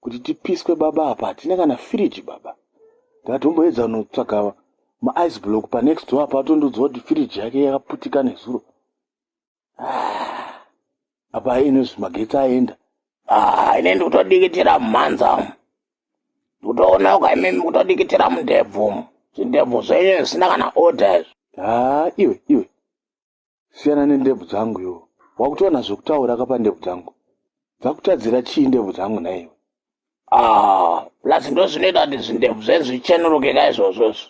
kuti tipiswe baba apa hatina kana firiji baba ndikatomboedza kunotsvaga maice block panext door apa atondoudza kuti firiji yake yakaputika nezuro ah, apa ainozvi magetsi aenda ah, ine ndikutodikitira mumhanza ndikutoona uka imimi kutodikitira mundebvu zvindebvu zvenyu zvisina kana order izvi haa ah, iwe iwe siyana nendebvu dzangu iwo wakutoona zvekutaura ka pandebvu dzangu dzakutadzira chii ndebvu dzangu naiwe ah, plus ndo zvinoita kuti zvindebvu zvezvichenuruke ka izvozvozvo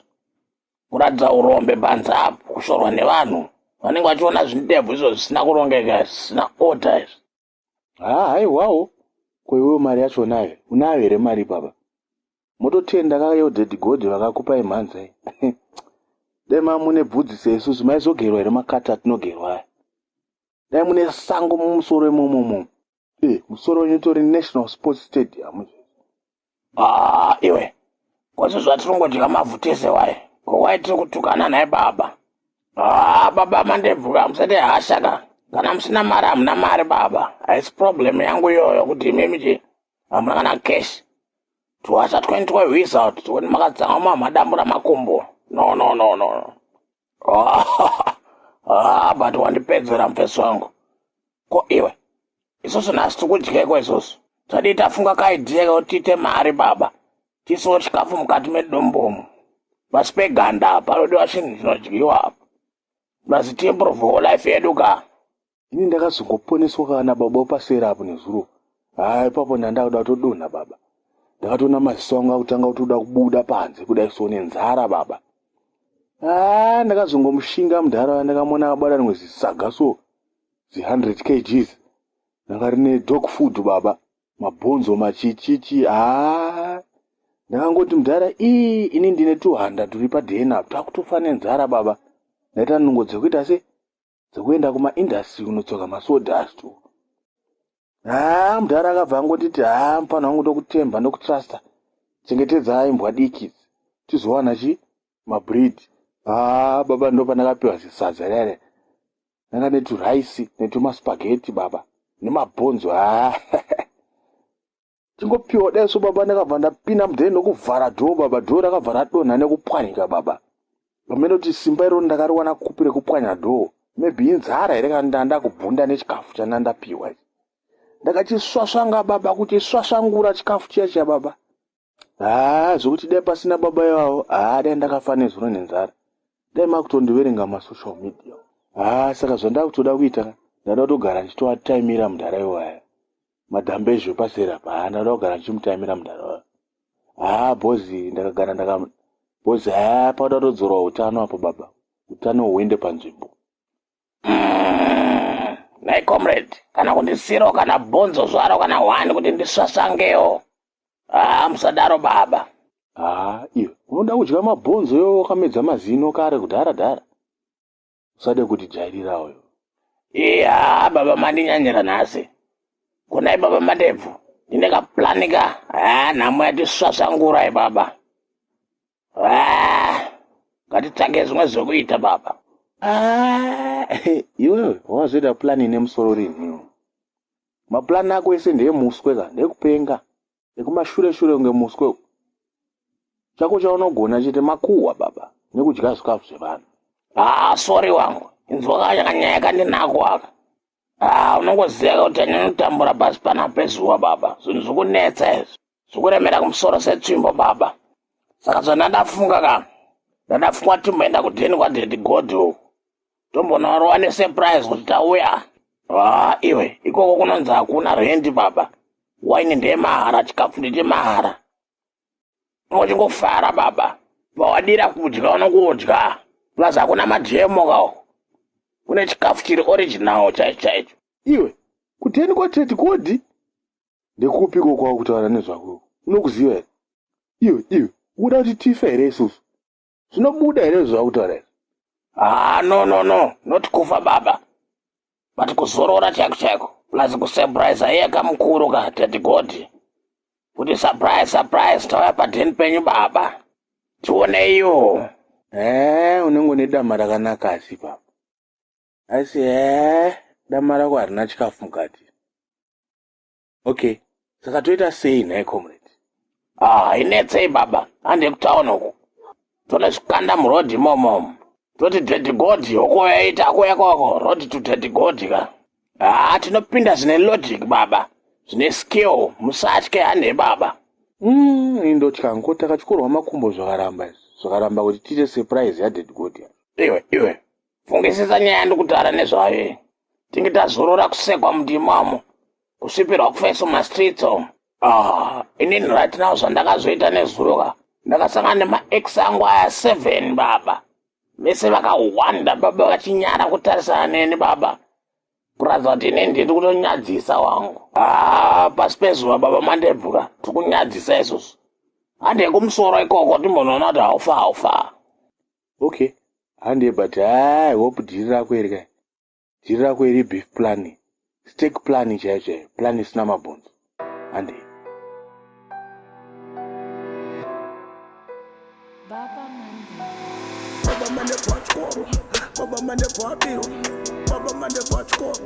kuratidza urombe panze apo kushorwa nevanhu vanenge vachiona zvindebvu izvo zvisina kurongeka zvisina order izvi haa haiwawo ko iwewo mari yacho unayo unayo here mari ipapa mototenda kayodhedhi godhi vakakupai mhanza i dai maa mune bvudzi seisusu maizogerwa here makati atinogerwa aya dai mune sango mumusoro imomomo e eh, musoro wenyu utori national sports stadium Ah, iwe kwazvo zvatirongodya mavhu tese waye ko waye tiri kutukana naye baba ah, baba mandebvuka hamusati hasha ka kana musina mari hamuna mari baba haisi problem yangu iyoyo kuti imimi chi hamuna kana cash twasha twenty twehwisa kuti tione makadzama mamadambura makumbo no no no no no. ah, but wandipedzera mufesi wangu ko iwe isusu nhasi tikudyeko isusu tadii tafunga kaidhiya kekuti tiite mari baba tisiwo chikafu mukati medombomo pasi peganda apa panodiwa chinhu chinodyiwa apa must improve life yedu ka ini ndakazongoponeswa kaa nababa wepaseri apo nezuro haa ipapo ndandakuda kutodonha baba ndakatoona maziso angu akutanga kutoda kubuda panze kudai so nenzara baba haa ndakazongomushinga mudhara wa ndakamona abada rimwe zisaga so zi 100 kgs ndanga rine dog food baba mabhonzo machichichi haa ndakangoti mudhara ii ini ndine tuhanda turi padna takutofa nenzara baba ndaita nungo dzekuita se dzekuenda kumaindustry kunotsoka masodast haa mudhara akabva angotiti haa mupano wangu ndokutemba ndokutrusta chengetedzai mbwa diki tizowana chi mabreed haa baba ndopandakapiwa zisadza rere ndanga neturice netumaspageti baba nemabhonzo haa tingopiwa dai so baba ndakabva ndapinda mudheni ndokuvhara dhoo baba dhoo rakabva radonha nekupwanyika baba pamene kuti simba iroo ndakariwana kupi rekupwanya dhoo maybe inzara here kana ndaa ndakubvunda nechikafu chandaa ndapiwa ichi ndakachisvasvanga baba kuchisvasvangura chikafu chiya chiya baba haa zvokuti dai pasina baba ivavo haa dai ndakafa nezuro nenzara dai makutondiverenga masocial media haa saka zvandakutoda kuita ndada kutogara ndichitoataimira mudhara iwaya madhambe ezvo paseri apa haa ndanoda kugara ndichimutaimira mudhara wayo haa bhozi ndakagara ndaka bhozi haa pakuda kutodzorwa utano apo baba utano huende panzvimbo nai comrade kana kundisiro kana bhonzo zvaro kana wani kuti ndisvasvangewo haa musadaro baba haa iyo unoda kudya mabhonzo yo wakamedza mazino kare kudhara dhara Usade kutijairira uyo. Iye haa baba mandinyanyira nhasi. Konai baba madebvu. Ndine kapulani ka. Haa nhamo yatisvasvangura ibaba. Haa ngatitsvage zvimwe zvekuita baba. Haa iwewe wazoita pulani ine musoro rinhiwo. Mapulani ako ese ndeemuswe ka ndekupenga. nekumashure shure kunge muswe uku chako chaunogona chete makuhwa baba nekudya zvikafu zvevanhu haa ah, sori wangu inzwakanyakanyaya kandinako aka haa ah, unongoziva kuti aninotambura pasi pana pezuva baba zvinhu zvikunetsa izvi zvikuremera kumusoro setsvimbo baba saka zvandadafunga ka ndadafunga timboenda kudheni kwadhedi godhi uku tombonorova nesurprise kuti tauya haa iwe ikoko kunonzi hakuna rendi baba waini ndemahara chikafu ndechemahara ungochingofara baba pawadira kudya unongodya plus hakuna mademo kawo kune chikafu chiri original chaicho chaicho iwe kuteni kwatete kodi ndekupi ko kwava kutaura nezvako unokuziva here iwe iwe ukuda kuti tife here isusu zvinobuda here zvautaura izvi ah no no no not kufa baba but kuzorora chaiko chaiko plus kusurprise aiye kamukuru ka tati godi kuti surprise surprise tauya padheni penyu baba tioneiyo ee eh, unenge une dama rakanaka asi baba asi ee eh, dama rako harina chikafu mukati okay saka toita sei nhai comrade ah, hainetsei ah, baba hande kutown uku tone zvikanda murodhi imomomo toti dhedhigodhi hoko yaita ako yakoko rodhi to dhedhigodhi ka haa ah, tinopinda zvine logic baba zvine skill musatye hande baba mm, indotya ngo takatyorwa makumbo zvakaramba izvi zvakaramba kuti tiite surprise yadhedhigodhi iwe iwe fungisisa nyaya yandikutaura nezvayo iyi tinge tazorora kusekwa mundimamo kusvipirwa kufeso mastreets omo ah inini right now zvandakazoita nezuroka ndakasangana nemaex angu aya seven baba vese vakahwanda baba vachinyara kutarisana neni baba kuratidza kuti inini ndiri kutonyadzisa wangu ah pasi pezuva baba mandebvura tiri kunyadzisa izvozvo hande kumusoro ikoko timbonoona kuti haufa haufa okay handei but haa hope dhiri rako iri kai dhiri rako iri beef plani stek plani chaiyo chaiyo plani isina mabhonzo handei baba mane bachikoro baba mane bachikoro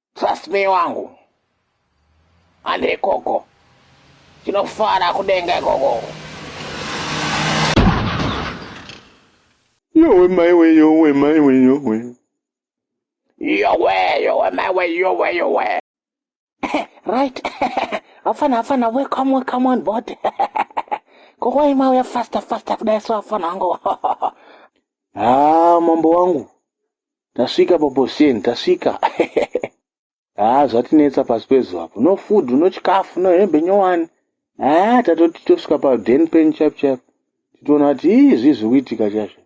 Trust me wangu. Hande ikoko. Tinofara kudenga ikoko. Yowe mai we yowe mai we yowe. Yowe yowe mai we yowe yowe. right. Afana afana welcome welcome on board. Koko ima uya faster faster kudai so afana wangu. ah mambo wangu. Tasvika paBoshen, tasvika. Haa zvatinetsa pasi pezuva apo. No food, no chikafu, no hembe nyowani. Haa tatoti tosvika paden pen chap chap. Titoona kuti ii zvii zviri kuitika chazvo.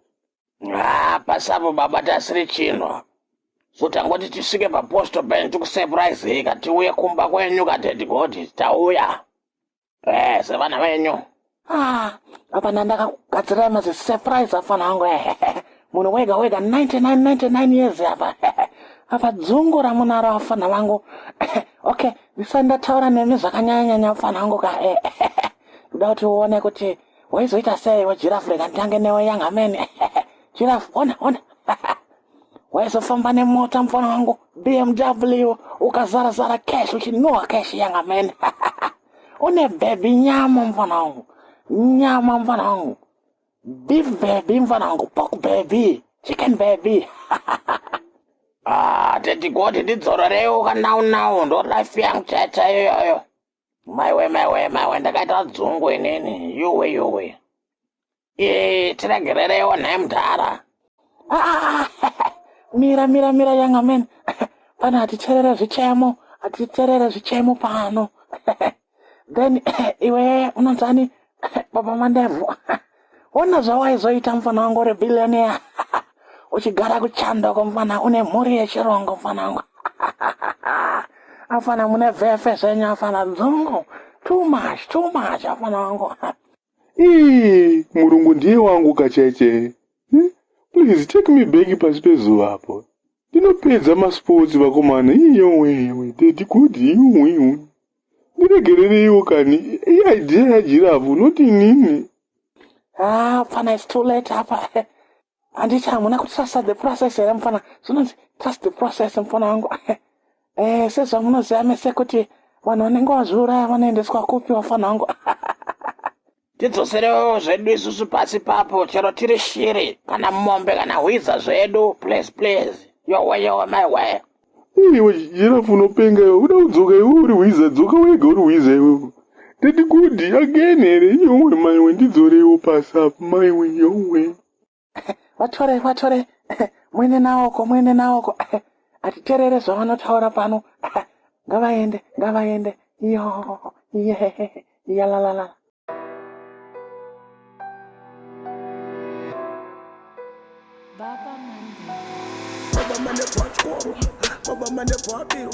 Haa pasi apo baba tasiri chinhu apo. So tangoti tisvike paposto pen tikusurprise heka tiuye kumba kwenyu kadaddy Godis tauya. eh sevana venyu ah apa ndandakakugadzirai mazi surprise afana hangu ehe eh, munhu wega wega 9999 years apa apa dzungu ramunaro afana vangu okay ndisati ndataura nemi zvakanyanyanyanya afana hangu ka eh, kuda kuti uone kuti waizoita sei wejirafu rega nditange newe young amene jirafu ona ona waizofamba nemota mfana wangu bmw ukazara zara cash uchinhuwa cash yanga mene une bhebhi nyama mfana wangu nyama mfana wangu beef bhebhi mfana wangu pork bhebhi chicken bhebhi ah tete goti ndidzororewo kanaunawo ndo life yangu chaita iyoyo maiwe maiwe maiwe ndakaita dzungu inini yowe yowe ee tiregerereiwo nhai mudhara ah, mira mira mira yanga mene pano hatiterere zvichemo hatiterere zvichemo pano then iwe unonzani baba mandebvu ona zvawaizoita mfana wangu uri billionaire uchigara kuchando ko mfana une mhuri yechirongo mfana wangu afana mune vefe zvenyu afana dzungu too much too much afana wangu ii murungu ndiye wangu kacheche hmm? please take me back pasi pezuva apo ndinopedza masports vakomana iyowewe dedi kudi iyowewe ndiregerereiwo kani iidea yajirafu not inini ah, pfana its too late apa handiti hamuna kutrust the process here mfana zvinonzi trust the process mfana wangu eh, sezvamunoziva mese kuti vanhu vanenge vazviuraya vanoendeswa kupi vafana wangu tidzoserewo zvedu isusu pasi papo chero tiri shiri kana mombe kana hwiza zvedu please please yowe yowe my way iwe jirafu unopenga iwe uda kudzoka iwe uri hwiza dzoka wega uri hwiza iwewe tati kudi again here yowe maiwe ndidzoreiwo pasi apo maiwe yowe vatore vatore muende naoko muende naoko atiterere zvavanotaura pano ngavaende ngavaende iyo iye iyalalala Baba mane kwachoro, baba mane kwabiro.